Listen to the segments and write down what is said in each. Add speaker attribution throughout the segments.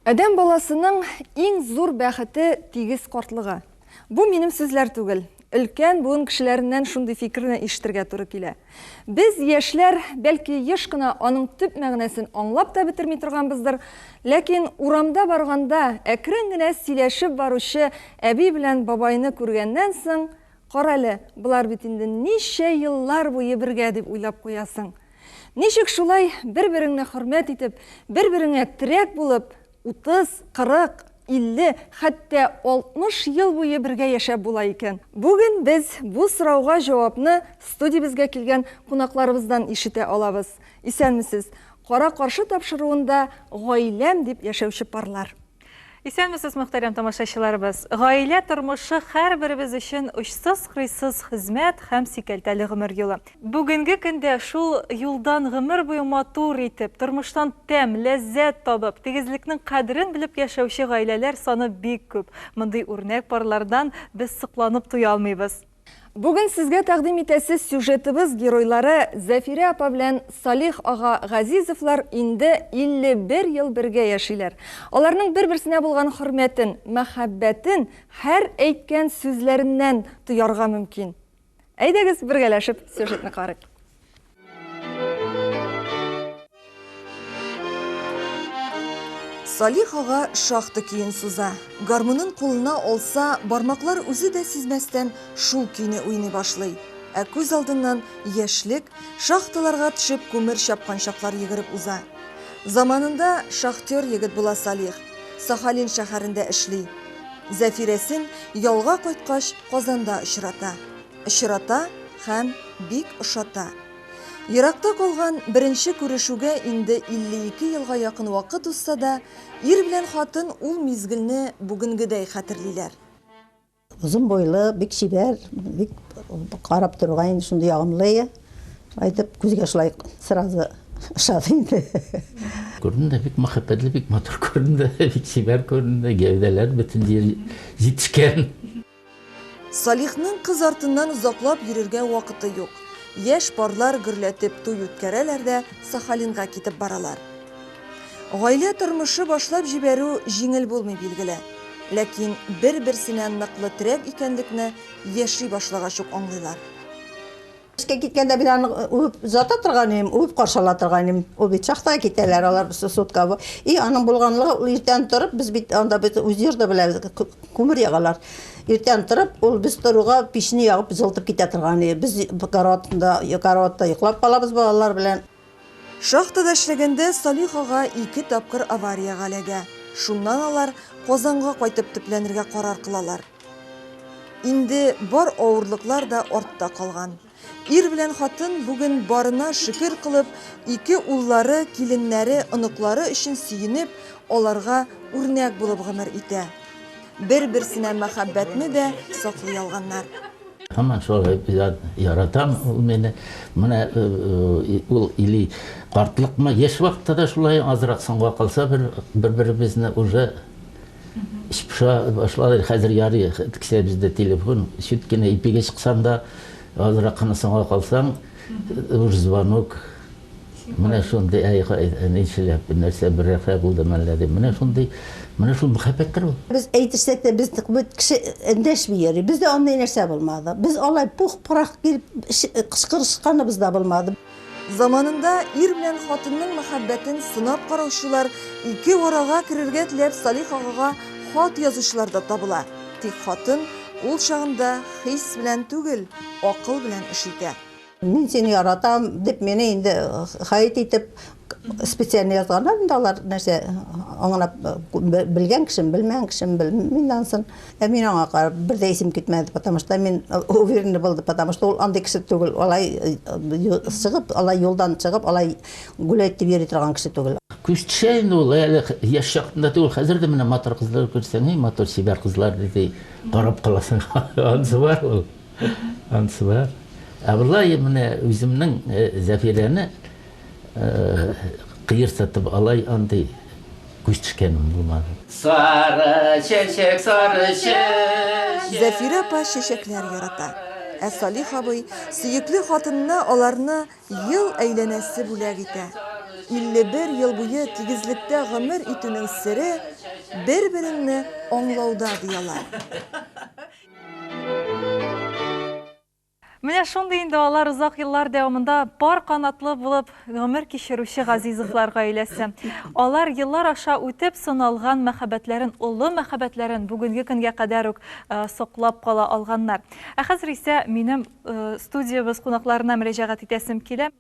Speaker 1: Адәм баласының иң зур бәхете тигез картлыгы. Бу минем сүзләр түгел. Өлкән буын кешеләреннән шундый фикерне ишетергә туры килә. Без, яшьләр, бәлки, еш кына аның төп мәгънәсен аңлап та бетерми торганбыздыр, ләкин урамда барганда, әкрен генә сөйләшеп баручы әби белән бабайны күргәннән соң, Карале, болар бит инде ничә еллар буе бергә, дип уйлап куясың. Ничек шулай бер-береңне хөрмәт итеп, бер-береңә терәк булып, Утыз, кырык, илле, хәтта алтмыш ел буе бергә яшәп була икән? Бүген без бу сорауга җавапны студиябезгә килгән кунакларыбыздан ишетә алабыз. Исәнмесез! Кара-каршы тапшыруында Гаиләм дип яшәүче парлар. Исәнмесез,
Speaker 2: мөхтәрәм тамашачыларыбыз! Гаилә тормышы һәрберебез өчен очсыз-кырыйсыз хезмәт һәм сикәлтәле гомер юлы. Бүгенге көндә шул юлдан гомер буе матур итеп, тормыштан тәм, ләззәт табып, тигезлекнең кадерен белеп яшәүче гаиләләр саны бик күп. Мондый үрнәк парлардан без сокланып туя алмыйбыз. Бүген сезгә
Speaker 1: тәкъдим итәсе сюжетыбыз геройлары Зәфирә апа белән Салих ага Газизовлар инде 51 ел бергә яшиләр. Аларның бер-берсенә булган хөрмәтен, мәхәббәтен һәр әйткән сүзләреннән тоярга мөмкин. Әйдәгез, бергәләшеп сюжетны карыйк. Салих ага шахты көен суза. Гармунын кулына алса, бармаклар үзе дә сизмәстән шул көйне уйный башлый. Ә күз алдыннан яшьлек, шахталарга төшеп күмер чапкан чаклар йөгереп уза. Заманында шахтер егет була Салих. Сахалин шәһәрендә эшли. Зәфирәсен ялга кайткач, Казанда очрата. Очрата һәм бик ошата. Еракта калган беренче күрешүгә инде 52 елга якын вакыт узса да, ир белән хатын ул мизгелне бүгенгедәй хәтерлиләр.
Speaker 3: Озын буйлы, бик чибәр, бик карап торуга инде шундый ягымлы. Айтып күзгә шулай сразу ошады инде. Күрдем дә
Speaker 4: бик мәхәббәтле, бик матур күрдем дә, бик чибәр күрдем дә, гәүдәләр бөтен җитешкән.
Speaker 1: Салихның кыз артыннан озаклап йөрергә вакыты юк. Яшь парлар гөрләтеп туй үткәрәләр дә Сахалинга китеп баралар. Гаилә тормышы башлап җибәрү җиңел булмый, билгеле. Ләкин бер-берсенә ныклы терәк икәнлекне яши башлагач ук аңлыйлар.
Speaker 3: Эшкә киткәндә мин аны үбеп озата торган идем, үбеп каршы ала торган идем. Ул бит шахтага китәләр, алар сутка. И аның булганлыгы, ул иртән торып, без бит анда бит үз йорда белән күмер ягалар. Иртән торып, ул без торуга печне ягып, җылытып китә торган иде. Без караватында, караватта йоклап калабыз балалар белән. Шахтада
Speaker 1: эшләгәндә Салих ага ике тапкыр авариягә эләгә. Шуннан алар Казанга кайтып төпләнергә карар кылалар. Инде бар авырлыклар да артта калган. Ир белән хатын бүген барына шөкер кылып, ике уллары, киленнәре, оныклары өчен сөенеп, аларга үрнәк булып гомер итә. Бер-берсенә мәхәббәтне дә саклый алганнар. Һаман шулай
Speaker 4: яратам ул мине. Менә ул или картлыкмы, яшь вакытта да шулай, азрак соңга калса бер, бер-беребезне уже шпша башлады. Хәзер ярый, кесә бездә телефон, чит кенә ипигә чыксаң да, азрак кына соңга калсаң, уж звонок. Менә шундый, әй, ничәләп, нәрсә, бер рәхә булдымы әллә, дип. Менә шундый, менә шул мәхәббәттер ул. Без әйтешсәк тә, без
Speaker 3: бит кеше эндәшми йөри. Бездә андый нәрсә булмады. Без алай пух-пырах килеп кычкырышканыбыз да булмады. Заманында
Speaker 1: ир белән хатынның мәхәббәтен сынап караучылар, ике арага керергә теләп Салих агага хат язучылар да табыла. Тик хатын ул чагында хис белән түгел, акыл белән эш итә. Мин сине
Speaker 3: яратам дип мине инде хәйт итеп специально язганнар инде алар нәрсә аңлап белгән кешем белмәгән кешем белмим ансын ә мин аңа карап бер дә исем китмәде потому что мин уверенный булды потому что ул андый кеше түгел алай чыгып алай юлдан чыгып алай гулять дип йөри торган кеше түгел Күзчә инде ул
Speaker 4: әле яшь чакында түгел, хәзер дә менә матур кызлар күрсәң, и матур чибәр кызлар диде, карап каласың, анысы бар ул. Ансы бар. Ә болай менә үземнең Зәфирәне кыер сатып алай андый күз төшкәнем булмады. Сары чәчәк, сары чәчәк. Зәфирә апа
Speaker 1: чәчәкләр ярата. Ә Салих абый сөекле хатынына аларны ел әйләнәсе бүләк итә. 51 ел буе тигезлектә гомер итүнең сере, бер-береңне аңлауда, ди алар.
Speaker 2: Менә шундый инде алар озак еллар дәвамында пар канатлы булып гомер кичерүче Газизовлар гаиләсе. Алар еллар аша үтеп сыналган мәхәббәтләрен, олы мәхәббәтләрен бүгенге көнгә кадәр үк э, соклап кала алганнар. Ә хәзер исә минем э, студиябез кунакларына мөрәҗәгать итәсем килә.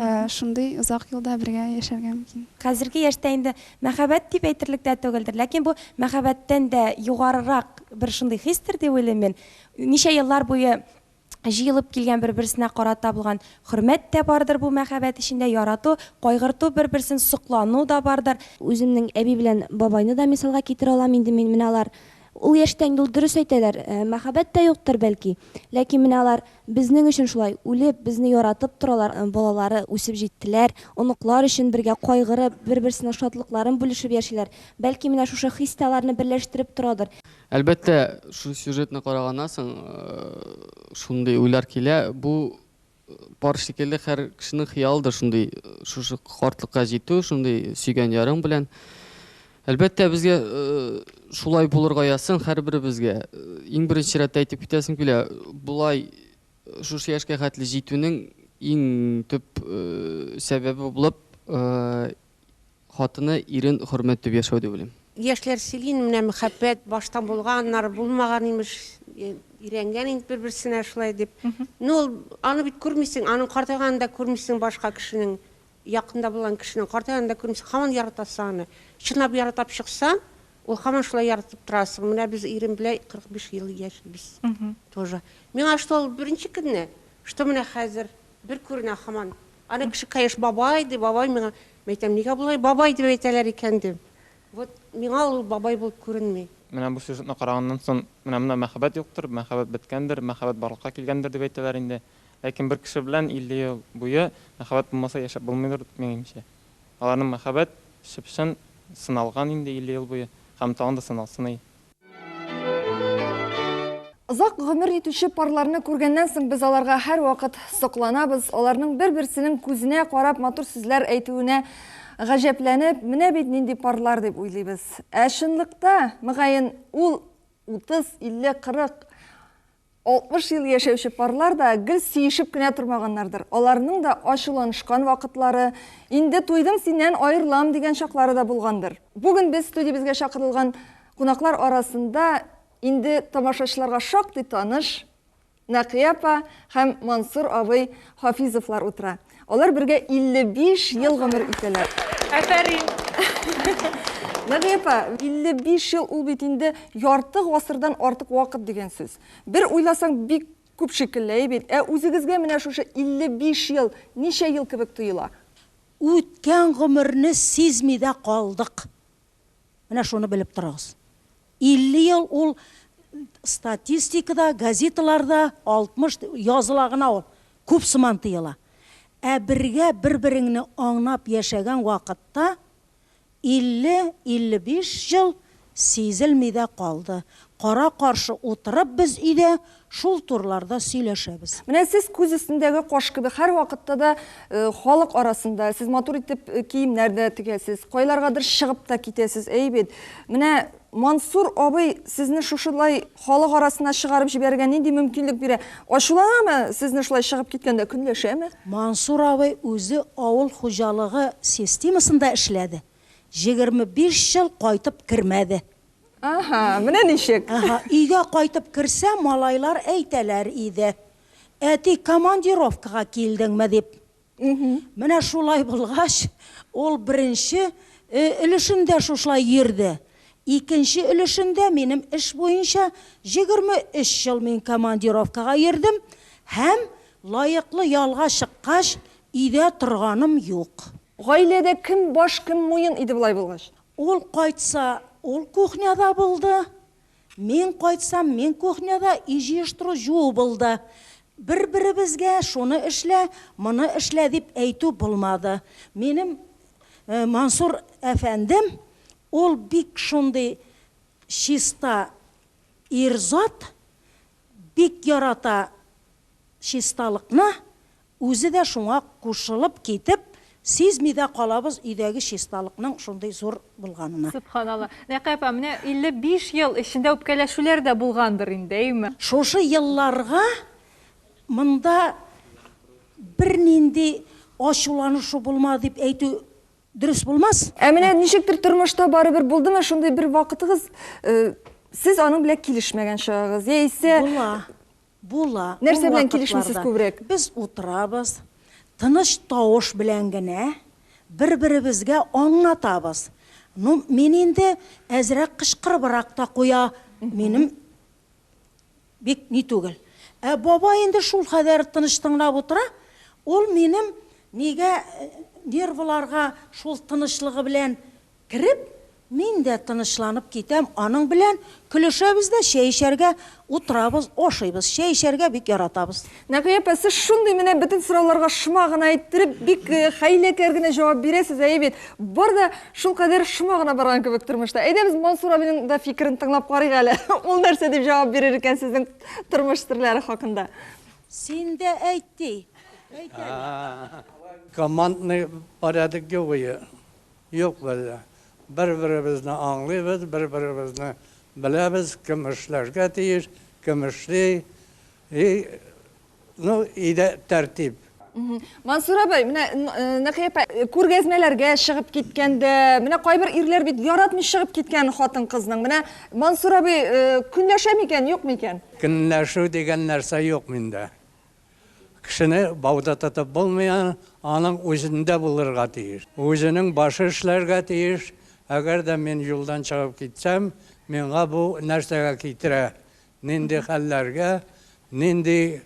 Speaker 5: Ә шундый озак елда бергә яшәргә мөмкин. Хәзерге яшьтә инде
Speaker 6: мәхәббәт дип әйтерлек тә түгелдер, ләкин бу мәхәббәттән дә югарырак бер шундый хистер дип уйлыйм мин. Ничә еллар буе җыелып килгән бер-берсенә карата булган хөрмәт тә бардыр бу мәхәббәт эчендә, ярату, кайгырту, бер-берсен соклану да бардыр. Үземнең әби белән
Speaker 7: бабайны да мисалга китерә алам инде мин. Менә алар Ул яшьтә инде ул дөрес әйтәләр, мәхәббәт тә юктыр, бәлки. Ләкин менә алар безнең өчен шулай үлеп, безне яратып торалар, балалары үсеп җиттеләр, оныклар өчен бергә кайгырып, бер-берсенең шатлыкларын бүлешеп яшиләр. Бәлки менә шушы хис тә аларны берләштереп торадыр. Әлбәттә,
Speaker 8: шул сюжетны караганнан соң шундый уйлар килә, бу Пар шикелле һәр кешенең хыялыдыр шундый шушы картлыкка җитү, шундый сөйгән ярың белән. Әлбәттә, безгә шулай булырга язсын һәрберебезгә. Иң беренче рәттә әйтеп китәсем килә, болай шушы яшькә хәтле җитүнең иң төп сәбәбе булып Хатыны, ирен хөрмәт итеп яшәү дип уйлыйм. Яшьләр сөйли инде, менә
Speaker 9: мәхәббәт башта булган, аннары булмаган, имеш, өйрәнгән инде бер-берсенә шулай дип. Ну, ул, аны бит күрмисең, аның картайганын да күрмисең, башка кешенең, якында булган кешенең картайганын да күрмисең, һаман яратасың аны. Чынлап яратап чыксаң, ул һаман шулай яратып торасың. Менә без ирем белән 45 ел яшибез тоже. Миңа что ул беренче көнне, что менә хәзер бер күренә һаман. Аны кеше Кәеш бабай ди, бабай миңа. Мин әйтәм, нигә болай бабай дип әйтәләр икән дим. Вот миңа ул бабай булып күренми. Менә бу сюжетны
Speaker 10: караганнан сон, менә монда мәхәббәт юктыр, мәхәббәт беткәндер, мәхәббәт барлыкка килгәндер дип әйтәләр инде. Ләкин бер кеше белән 50 ел буе мәхәббәт булмаса яшәп булмыйдыр, минемчә. Аларның мәхәббәт чып-чын сыналган инде 50 ел буе һәм тагын да сыналсын, әй.
Speaker 1: Озак гомер итүче парларны күргәннән соң без аларга һәрвакыт сокланабыз, аларның бер-берсенең күзенә карап матур сүзләр әйтүенә гаҗәпләнеп, менә бит нинди парлар дип уйлыйбыз. Ә чынлыкта, мөгаен, ул 30, 50, 40 60 ел яшәүче парлар да гел сөешеп кенә тормаганнардыр. Аларның да ачуланышкан вакытлары, инде туйдым синнән, аерылам, дигән чаклары да булгандыр. Бүген без студиябезгә чакырылган кунаклар арасында инде тамашачыларга шактый таныш Нәкыя апа һәм Мансур абый Хафизовлар утыра. Алар бергә 55 ел гомер итәләр. Әфәрин! Мәгия апа, 55 ел ул бит инде ярты гасырдан артык вакыт дигән сүз. Бер уйласаң, бик күп шикелле, әй бит? Ә үзегезгә менә шушы 55 ел ничә ел кебек тоела? Үткән
Speaker 11: гомерне сизми дә калдык. Менә шуны белеп торыгыз. 50 ел ул статистикада, газеталарда 60 языла гына ул, күп сыман тоела. Ә бергә бер-береңне аңнап яшәгән вакытта 50-55 ел сизелми дә калды. Кара-каршы утырып без өйдә Шул турларда сөйләшәбез. Менә сез күз
Speaker 1: өстендәге каш кебек, һәрвакытта да халык арасында, сез матур итеп киемнәр дә тегәсез, кайларгадыр чыгып та китәсез, әй бит. Менә Мансур абый сезне шушылай халык арасына чыгарып җибәрергә нинди мөмкинлек бирә? Ачуланамы сезне шулай чыгып киткәндә, көнләшәме? Мансур абый
Speaker 11: үзе авыл хуҗалыгы системасында эшләде, егерме биш ел кайтып кермәде. Аһа,
Speaker 1: менә ничек! Аһа, өйгә кайтып
Speaker 11: керсә, малайлар әйтәләр иде, Әти, командировкага килдеңме? дип. Менә шулай булгач, ул беренче өлешендә шушылай йөрде. Икенче өлешендә минем эш буенча җигерме өч ел мин командировкага йөрдем һәм, лаеклы ялга чыккач, өйдә торганым юк. Гаиләдә кем
Speaker 1: баш, кем муен иде болай булгач? Ул
Speaker 11: кайтса, ул
Speaker 1: кухняда булды. Мин
Speaker 11: кайтсам, мин кухняда, өй җыештыру, җуу булды. Бер-беребезгә шуны эшлә, моны эшлә дип әйтү булмады. Минем Мансур әфәндем, ул бик шундый чиста ир-зат, бик ярата чисталыкны, Үзе дә шуңа кушылып китеп, сизми дә калабыз өйдәге чисталыкның шундый зур булганына. Сөбханалла. Нәкый
Speaker 2: апа, менә 55 ел эчендә үпкәләшүләр дә булгандыр инде, әйеме? Шушы елларга
Speaker 11: монда бернинди ачуланышу булмады дип әйтү дөрес булмас. Ә менә ничектер
Speaker 1: тормышта барыбер булдымы шундый бер вакытыгыз, сез аның белән килешмәгән чагыгыз, яисә. Була. Була,
Speaker 11: ул Нәрсә белән килешмисез
Speaker 1: вакытларда күбрәк? без утырабыз,
Speaker 11: тыныч тавыш белән генә бер-беребезгә аңлатабыз. Ну, мин инде әзрәк кычкырыбрак та куя, минем бик ни түгел. Ә бабай инде шулкадәр тыныч тыңлап утыра, ул минем нигә нервыларга шул тынычлыгы белән Кереп, мин дә тынычланып китәм, аның белән көлешәбез дә, чәй эчәргә утырабыз, ашыйбыз. Чәй эчәргә бик яратабыз. Нәкыя апа, сез
Speaker 1: шундый менә бөтен сорауларга шома гына иттереп, бик хәйләкәр генә җавап бирәсез, әйе бит? Бар да шулкадәр шома гына барган кебек тормышта. Әйдәгез, Мансур абыйның да фикерен тыңлап карыйк әле, ул нәрсә дип җавап бирер икән сезнең тормыш серләре хакында. Син дә
Speaker 11: әйт, ди. Әйт әле.
Speaker 12: Командный порядок геои. Юк, без бер-беребезне аңлыйбыз, бер-беребезне беләбез, кем эшләргә тиеш, кем эшли. И, ну, өйдә тәртип.
Speaker 1: Мансур абый, менә Нәкыя апа күргәзмәләргә чыгып киткәндә, менә кайбер ирләр бит яратмый чыгып киткән хатын-кызның. Менә Мансур абый көнләшәме икән, юкмы икән? Көнләшү дигән
Speaker 12: нәрсә юк миндә. Кешене бауда тотып булмый, аның үзендә булырга тиеш. Үзенең башы эшләргә тиеш. Әгәр дә мин юлдан чыгып китсәм, миңа бу нәрсәгә китерә, нинди хәлләргә, нинди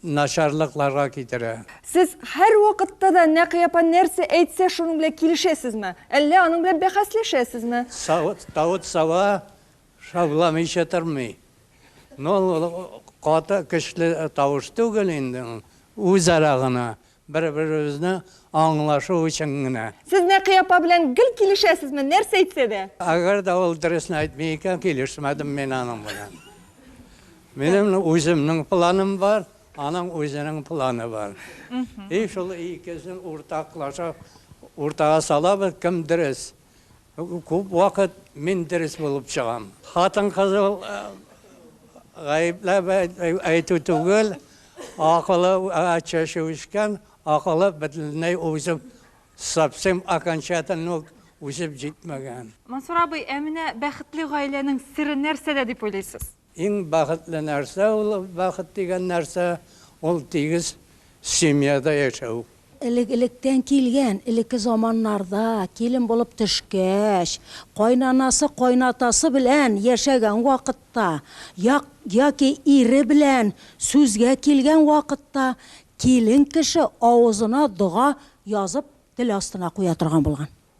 Speaker 12: начарлыкларга китерә? Сез
Speaker 1: һәрвакытта да Нәкый апа нәрсә әйтсә, шуның белән килешәсезме? Әллә аның белән бәхәсләшәсезме? Савыт-саба
Speaker 12: Шауламыйча тормый. Ну ул каты көчле тавыш түгел инде ул, үзара гына, бер-беребезне аңлашу өчен генә. Сез Нәкый апа белән
Speaker 1: гел килешәсезме, нәрсә әйтсә дә? Әгәр дә ул дөресен
Speaker 12: әйтми икән, килешмәдем мин аның белән. Минем үземнең планым бар, аның үзенең планы бар. И шул икесен уртаклашып, уртага салабыз, кем дөрес. Күп вакыт мин дөрес булып чыгам. Хатын-кызы гаепләп әйтү түгел, акылы чәче үскән, акылы бөтенләй үсеп, совсем окончательно ук үсеп җитмәгән. Мансур абый, ә
Speaker 2: менә бәхетле гаиләнең сере нәрсәдә дип уйлыйсыз? Иң бәхетле
Speaker 12: нәрсә ул, бәхет дигән нәрсә, ул тигез семьяда яшәү. Элек-электән
Speaker 11: килгән, элекке заманнарда килен булып төшкәч, кайнанасы, кайнатасы белән яшәгән вакытта, як, яки ире белән сүзгә килгән вакытта килен кеше авызына дога язып тел астына куя торган булган.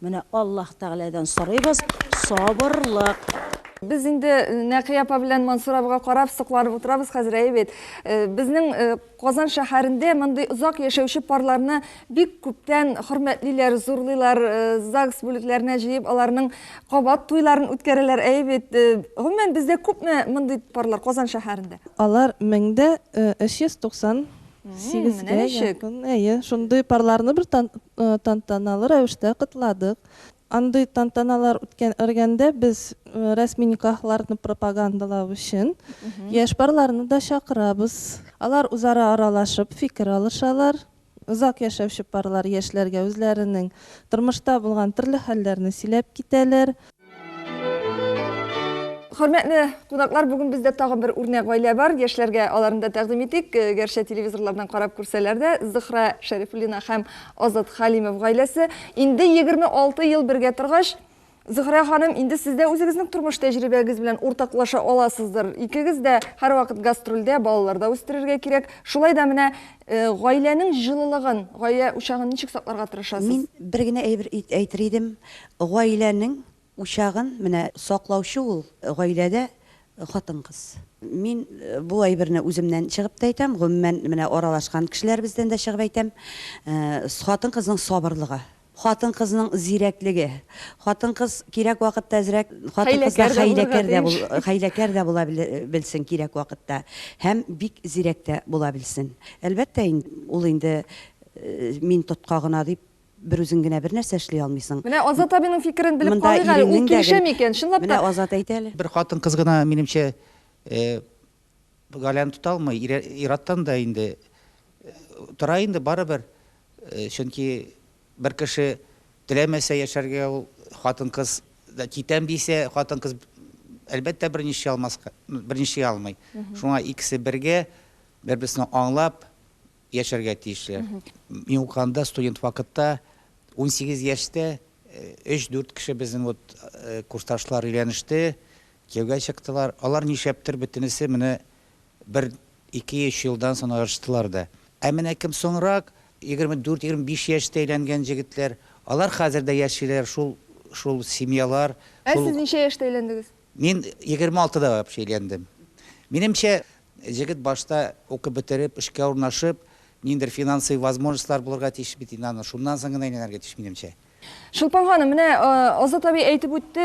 Speaker 11: Менә Аллаһ Тәгаләдән сорыйбыз сабырлык. Без
Speaker 1: инде Нәкый апа белән Мансур абыйга карап, сокланып утырабыз хәзер, әйе бит? Безнең Казан шәһәрендә мондый озак яшәүче парларны бик күптән хөрмәтлиләр, зурлыйлар, ЗАГС бүлекләренә җыеп, аларның кабат туйларын үткәрәләр, әйе бит? Гомумән, бездә күпме мондый парлар Казан шәһәрендә? Алар меңдә
Speaker 13: 390 Сигезгә якын, әйе, шундый парларны бер тантаналы рәвештә котладык. Андый тантаналар үткәргәндә без рәсми никахларны пропагандалау өчен яшь парларны да чакырабыз. Алар үзара аралашып, фикер алышалар. Озак яшәүче парлар яшьләргә үзләренең тормышта булган төрле хәлләрне сөйләп китәләр.
Speaker 1: Хөрмәтле кунаклар, бүген бездә тагын бер үрнәк гаилә бар. Яшьләргә аларны да тәкъдим итик. Э, гәрчә телевизорлардан карап күрсәләр дә, Зөхра Шәрифуллина һәм Азат Халимов гаиләсе инде 26 ел бергә торгач, Зөхрә ханым, инде сез дә үзегезнең тормыш тәҗрибәгез белән уртаклаша аласыздыр. Икегез дә һәрвакыт гастрольдә, балаларда үстерергә кирәк. Шулай да менә э, гаиләнең җылылыгын, гаилә учагын ничек сакларга тырышасыз? Мин бер генә әйбер
Speaker 14: әйтер идем. Гаиләнең учагын менә саклаучы ул гаиләдә хатын-кыз. Мин бу әйберне үземнән чыгып та әйтәм, гомумән менә аралашкан кешеләребездән дә чыгып әйтәм, хатын-кызның сабырлыгы, хатын-кызның зирәклеге, хатын-кыз кирәк вакытта әзрәк, хатын-кызлар хәйләкәр дә булырга, хәйләкәр дә була белсен кирәк вакытта һәм бик зирәк тә була белсен. Әлбәттә инде, ул инде мин тотка гына дип бер үзең генә бер нәрсә эшли алмыйсың. Менә Азат абиның
Speaker 1: фикерен белеп Монда карыйк әле, ул иреңнең дә гел- килешәме икән, чынлап та? Менә Азат әйтә әле. Бер
Speaker 14: хатын-кыз гына,
Speaker 15: минемчә, э, Галяны тота алмый. Ире, ир-аттан да инде, э, тора инде барыбер. Э, чөнки бер кеше теләмәсә яшәргә, ул хатын-кыз да китәм дисә, хатын-кыз, б, әлбәттә, берни эшли алмаска, ну, берни эшли алмый. Шуңа икесе бергә, бер-берсен аңлап, яшәргә тиешләр. Мин укыганда студент вакытта унсигез яшьтә өч-дүрт кеше безнең вот курсташлар өйләнеште, кияүгә чыктылар. Алар нишләптер бөтенесе менә бер ике-өч елдан соң аерыштылар да. Ә менә кем соңрак егерме дүрт-егерме биш яшьтә өйләнгән җегетләр, алар хәзер дә яшиләр, шул шул семьялар. Ә сез ничә
Speaker 1: яшьтә өйләндегез? Мин егерме
Speaker 15: алтыда вообще өйләндем. Минемчә, җегет башта укып бетереп, эшкә урнашып, ниндидер финансовый возможностьлар булырга тиеш бит инде аның, шуннан соң гына өйләнергә тиеш, минемчә. Чулпан ханым,
Speaker 1: менә Азат абый әйтеп үтте,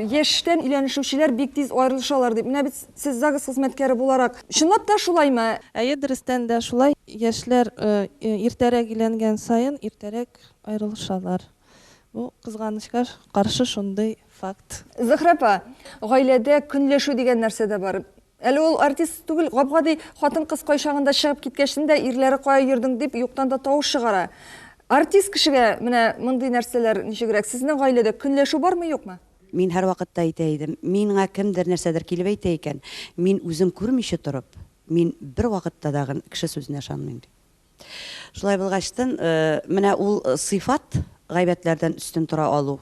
Speaker 1: яшьтән өйләнешүчеләр бик тиз аерылышалар дип. Менә бит сез ЗАГС хезмәткәре буларак, чынлап та шулаймы? Әйе, дөрестән дә
Speaker 13: шулай. Яшьләр иртәрәк өйләнгән саен, иртәрәк аерылышалар. Бу, кызганычка каршы, шундый факт. Зөһрә апа,
Speaker 1: гаиләдә көнләшү дигән нәрсә дә бар. Әле ул артист түгел, гап-гади хатын-кыз кайчагында чыгып киткәчтен дә ирләре кая йөрдең дип юктан да тавыш чыгара. Артист кешегә менә мондый нәрсәләр ничегрәк? Сезнең гаиләдә көнләшү бармы, юкмы? Мин һәрвакытта
Speaker 14: әйтә идем, миңа кемдер нәрсәдер килеп әйтә икән, мин үзем күрмичә торып, мин бервакытта да кеше сүзенә ышанмыйм, дип. Шулай булгачтын, менә ул сыйфат, гайбәтләрдән өстен тора алу,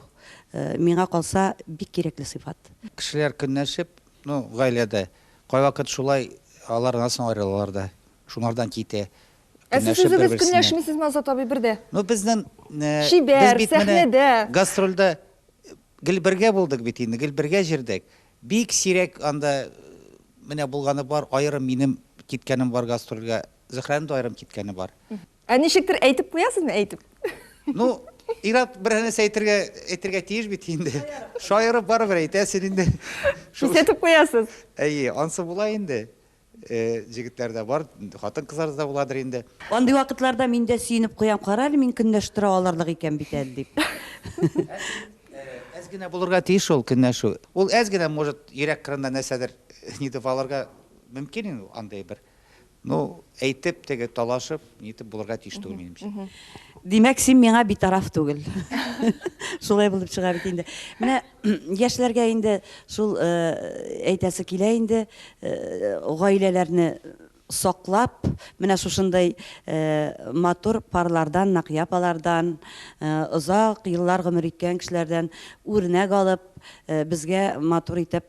Speaker 14: миңа калса, бик кирәкле сыйфат. Кешеләр көнләшеп,
Speaker 15: ну, гаиләдә, кайвакыт шулай алар аннан соң аерылалар да, шуңардан китә. Ә сез Көнләшеп, үзегез
Speaker 1: бер-берсенә. көнләшмисезме, Азат абый, бер дә? Ну, безнен, э,
Speaker 15: без Чибәр,
Speaker 1: бит менә сәхнәдә. гастрольдә
Speaker 15: гел бергә булдык бит инде, гел бергә җырдык. Бик сирәк анда, менә булганы бар, аерым минем киткәнем бар гастрольгә, Зөһрәнең дә аерым киткәне бар. Ә ничектер
Speaker 1: әйтеп куясызмы, әйтеп? Ну,
Speaker 15: Ират бер нәрсә әйтергә әйтергә тиеш бит инде. Шаярып барыбер әйтәсең инде. Кисәтеп
Speaker 1: куясыз. Әйе, ансы була
Speaker 15: инде. Э, җегетләр дә бар, хатын-кызлар да буладыр инде. Андый вакытларда
Speaker 14: мин дә сөенеп куям, кара әле мин көнләш тора алырлык икән бит әле дип. Әз
Speaker 15: генә булырга тиеш шул көнләшү. Ул әз генә, может, йөрәк кырында нәрсәдер нидер алырга мөмкин инде андый бер. Ну, әйтеп, теге, талашып, нитеп булырга тиеш түгел, минемчә. Димәк, син
Speaker 14: миңа битараф түгел. Шулай булып чыга бит инде. Менә яшьләргә инде шул э, әйтәсе килә инде, э, гаиләләрне саклап, менә шушындай э, матур парлардан, нәкъ апалардан, э, озак еллар гомер иткән кешеләрдән үрнәк алып, э, безгә матур итеп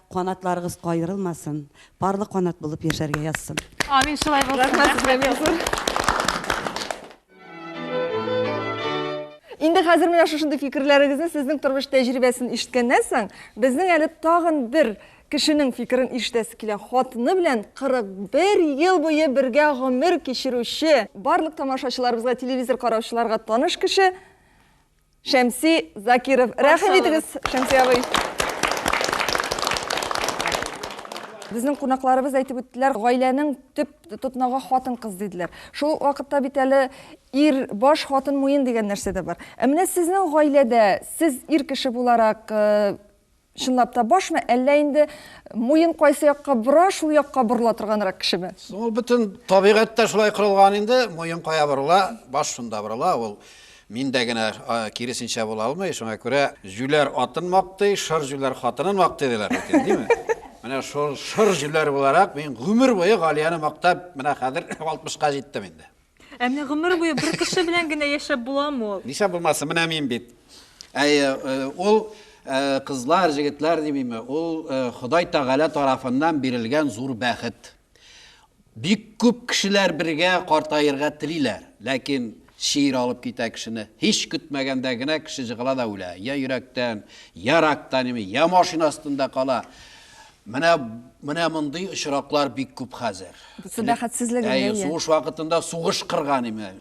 Speaker 14: Канатларыгыз каерылмасын, парлы канат булып яшәргә язсын. Амин, шулай булсын.
Speaker 2: Рәхмәт сезгә бик зур.
Speaker 1: Инде хәзер менә шушындый фикерләрегезне сезнең тормыш тәҗрибәсен ишеткәннән соң, безнең әле тагын бер кешенең фикерен ишетәсе килә. Хатыны белән 41 ел буе бергә гомер кичерүче, барлык тамашачыларыбызга, телевизор караучыларга таныш кеше Шәмси Закиров. Рәхим итегез, Шәмси абый. Безнең кунакларыбыз әйтеп үттеләр, гаиләнең төп тотнагы хатын-кыз диделәр. Шул вакытта бит әле ир баш, хатын муен дигән нәрсә дә бар. Ә менә сезнең гаиләдә сез ир кеше буларак, э, Чынлап та башмы, әллә инде муен кайсы якка бора, шул якка борыла торганрак кешеме? Ул бөтен
Speaker 16: табигатьтә шулай корылган инде, муен кая борыла, баш шунда борыла, ул миндә генә киресенчә була алмый, шуңа күрә җүләр атын мактый, шыр җүләр хатынын мактый диләр бит инде, димме? Менә шул шыр җүләр буларак мин гомер буе Галияне мактап, менә хәзер 60 ка җиттем инде. Ә менә гомер
Speaker 2: буе бер кеше белән генә яшәп буламы ул? Нишләп булмасын, менә мин
Speaker 16: бит. Ә ул кызлар, җегетләр димиме, ул Ходай Тәгалә тарафыннан бирелгән зур бәхет. Бик күп кешеләр бергә картаерга телиләр, ләкин шиир алып китә кешене. Һич көтмәгәндә генә кеше җыгыла да үлә. Я йөрәктән, я рактан, я машина астында кала. Менә менә мондый очраклар бик күп хәзер. Су бәхетсезлеге
Speaker 1: әйе. Сугыш вакытында
Speaker 16: сугыш кырган име.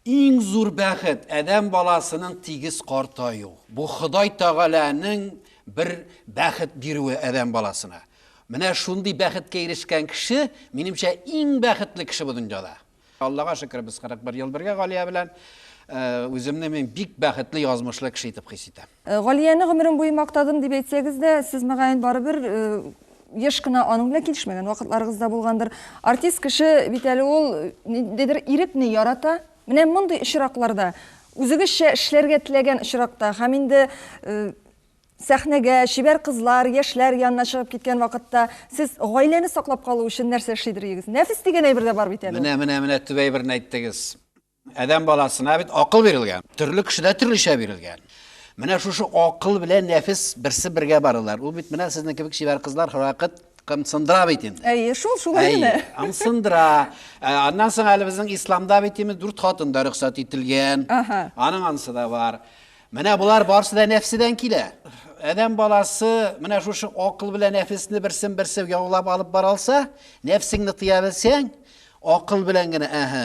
Speaker 16: Иң зур бәхет адәм баласының тигез картаю. Бу Ходай Тагаләнең бер бәхет бирүе адәм баласына. Менә шундый бәхеткә ирешкән кеше, минемчә, иң бәхетле кеше бу дөньяда. Аллага шөкер, без 41 ел бергә Галия белән. Үземне мин бик бәхетле, язмышлы кеше итеп хис итәм. Галияне гомерем буе
Speaker 1: мактадым дип әйтсәгез дә, сез, мөгаен, барыбер еш кына аның белән килешмәгән вакытларыгыз да булгандыр. Артист кеше бит әле ул ниндидер ирекне ярата. Менә мондый очракларда, үзегезчә эшләргә теләгән очракта һәм инде Сәхнәгә, чибәр кызлар, яшьләр янына чыгып киткән вакытта, сез гаиләне саклап калу өчен нәрсә эшли дерегез? Нәфес дигән әйбер дә бар бит әле ул. Менә, менә, менә төп әйберне
Speaker 16: әйттегез. Адәм баласына бит акыл бирелгән. Төрле кешедә төрлечә бирелгән. Менә шушы акыл белән нәфес берсе бергә баралар. Ул бит менә сезнең кебек чибәр кызлар һәрвакыт кымсындыра бит инде. Әйе, шул, шулай Әйе, генә.
Speaker 1: ымсындыра.
Speaker 16: Ә, Аннан соң әле безнең исламда бит имез дүрт хатын да рөхсәт ителгән. Аһа. Аның анысы да бар. Менә болар барсы да нәфседән килә. Адәм баласы менә шушы акыл белән нәфесне берсен-берсе яулап алып бара алса, нәфсеңне тыя белсәң, акыл белән генә, әһә,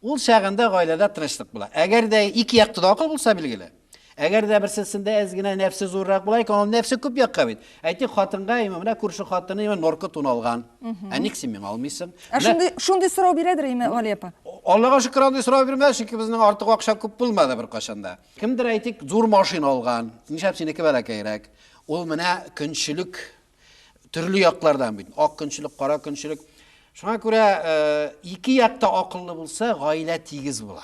Speaker 16: ул чагында гаиләдә тынычлык була. Әгәр дә ике якты да акыл булса, билгеле. Әгәр дә берсесендә әз генә нәфсе зуррак була икән, ул нәфсе күп якка бит. Әйтик, хатынга именно менә күрше хатыны именно норка тун алган. Ә ник син миңа алмыйсың? Ә Менә шундый шундый сорау
Speaker 1: бирәдер именно Валия апа. Аллага шөкер андый
Speaker 16: сорау бирмәде, чөнки безнең артык акча күп булмады беркайчан да. Кемдер әйтик, зур машина алган, нишләп синеке бәләкәйрәк? Ул менә көнчелек төрле яклардан бит. Ак көнчелек, кара көнчелек. Шуңа күрә э, ике якта акыллы булса, гаилә тигез була.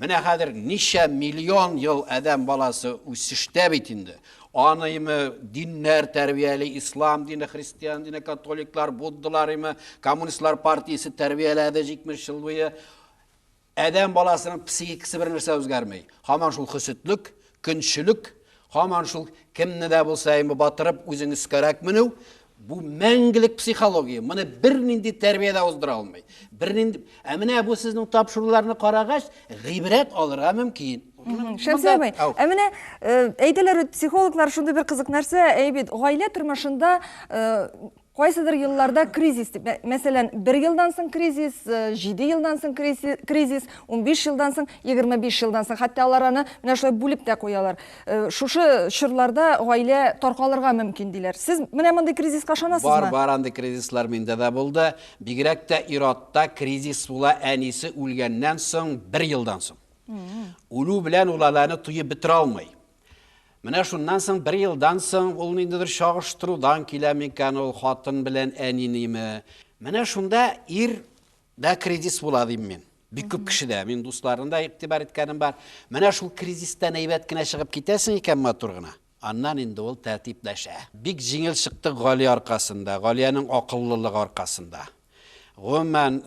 Speaker 16: Менә хәзер ничә миллион ел адәм баласы үсештә бит инде. Аныймы, диннәр тәрбияли, ислам дине, христиан дине, католиклар, буддалар име, коммунистлар партиясе тәрбияләде 70 ел буе. Адәм баласының психикасы бер нәрсә үзгәрмәй. Һаман шул хөсетлек, көнчелек, һаман шул кемне дә булса име батырып, үзең өскәрәк менү, Бу мәңгелек психология. Моны бернинди тәрбия дә уздыра алмый. Бернинди. Ә менә бу сезнең тапшыруларны карагач, гыйбрәт алырга мөмкин. Шәмсия абый,
Speaker 1: ә менә э, әйтәләр бит психологлар шундый бер кызык нәрсә, әй бит, гаилә тормышында э, кайсыдыр елларда кризис дип, мәсәлән, бер елдан соң кризис, э, җиде елдан соң кризис, унбиш елдан соң, егерме биш елдан соң, хәтта алар аны менә шулай бүлеп тә куялар. Э, шушы чорларда гаилә таркалырга мөмкин диләр сез менә мондый кризиска ышанасызмы бар бар андый кризислар
Speaker 16: миндә дә булды бигрәк тә ир-атта кризис була әнисе үлгәннән соң бер елдан соң үлү белән ул аланы туеп бетерә алмый менә шуннан соң бер елдан соң ул ниндидер чагыштырудан килә микән ул хатын белән әниниме менә шунда ир Да кризис була дим мин. Бик күп кешедә, мин дусларны да игътибар иткәнем бар. Менә шул кризистан әйбәт кенә чыгып китәсең икән матур гына. Аннан инде ул тәртипләшә. Бик җиңел чыкты Гали аркасында, Галиянең акыллылыгы аркасында. Гомумән,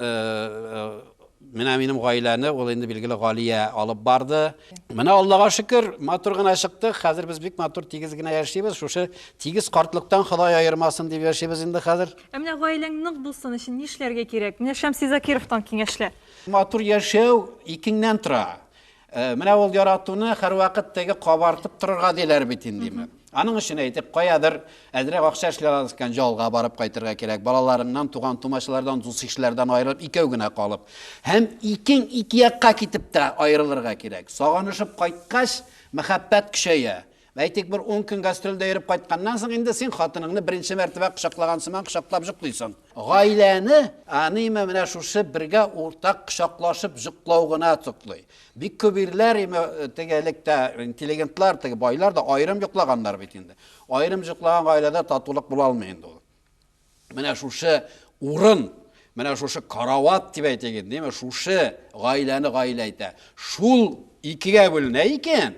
Speaker 16: менә минем гаиләне ул инде билгеле Галия алып барды. Менә Аллага шөкер, матур гына чыктык. Хәзер без бик матур тигез генә яшибез. Шушы тигез картлыктан Ходай аермасын дип яшибез инде хәзер. Ә менә гаиләң нык
Speaker 2: булсын өчен нишләргә кирәк? Менә Шәмси Закировтан киңәшләр. Матур яшәү
Speaker 16: икеңнән тора. Менә ул яратуны һәрвакыт теге кабартып торырга диләр бит инде. Аның өчен әйтик, каядыр әзрәк акча эшли аласыз икән, ялга барып кайтырга кирәк. Балаларыңнан, туган-тумачалардан, дус-ишләрдән аерылып, икәү генә калып. Һәм икең ике якка китеп тә аерылырга кирәк. Сагынышып кайткач, мәхәббәт көчәя. Әйтик, бер ун көн гастрольдә йөреп кайтканнан соң, инде син хатыныңны беренче мәртәбә кочаклаган сыман кочаклап җоклыйсың. Гаиләне аниме менә шушы бергә уртак кочаклашып җоклау гына туклый. Бик күп ирләр име теге элек тә интеллигентлар, теге байлар да аерым җоклаганнар бит инде. Аерым җоклаган гаиләдә татулык була алмый инде ул. Менә шушы урын, менә шушы карават дип әйтик инде, шушы гаиләне гаилә итә. Шул икегә бүленә икән,